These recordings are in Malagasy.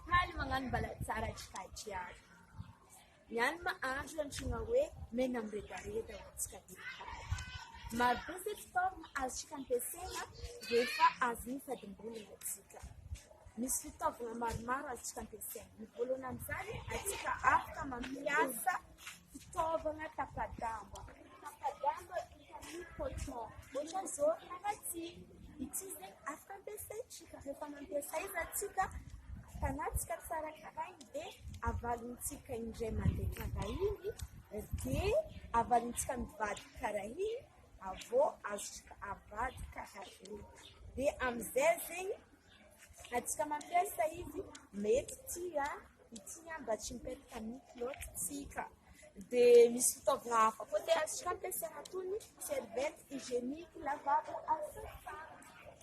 Faly magnano mbala tsara tsy fahadiavina. Ny any ma andro antsoina hoe mena miredareda ho antsika vehivavy. Maro be ireto forme azontsika ampiasaina rehefa avy mifadim-bolo isika. Misy fitaovana maromaro azontsika ampiasaina. Ny voalohany amin'izany, antsika afaka mampiasa. Fitaovana tapa-damba, tapa-damba vita amin'ny coton, ohatra izao ry Ratsy, ity izay afaka ampiasaintsika rehefa mampiasa aiza tsika, atanatsika tsara karaha iny dia avalintsika indray mandeha karaha iny dia avalintsika mivadika karaha iny avy eo azontsika avadika karaha iny dia amin'izay zegny raha tsika mampiasa izy mety tia. Ity ihany mba tsy mipetaka mihitsy loatra tsika. Dia misy fitaovana hafa koa tena tsy fampiasaina toy ny serviette hygienique, lavabo, asatanana.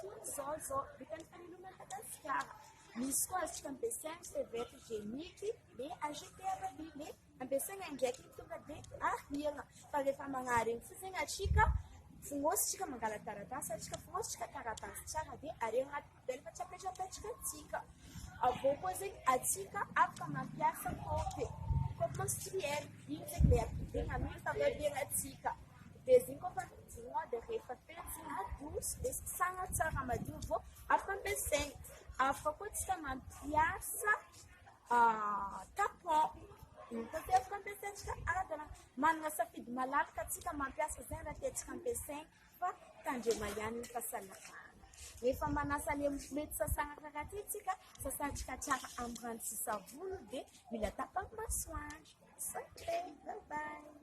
Toy izao izao, vita amin'ny tany aloha Madagasikara. Misy koa azontsika ampiasaina ny serviette hygienique dia acheter à la ville, dia ampiasaina indraika iny tonga dia ariana. Fa rehefa magnary iny fotsiny atsika, fonositsika mangala-taratasy atsika, fonositsika taratasy tsara dia ariana. Dia rehefa tsy apetrapetraka antsika, avy eo koa zegny antsika afaka mampiasa kôpy e, kôpy menstruel, igny zegny le ampidegna amin'igny fanabeazantsika, dia zegny koa fa mijoroa dia rehefa feno zegny adoso dia sasagna tsara madio avy eo afaka ampiasaigny, afaka koa antsika mampiasa tapon, igny koa dia afaka ampiasaintsika arakaraka, managna safidy malalaka antsika mampiasa zegny raha tiantsika ampiasaigny. Fa tandrema ihany ny fahasalamana. Rehefa manasa le mety sasana karaty iny tsika, sasantsika tsara am rano sy savony dia mila tapaham masoandro. Sante! Bye bye!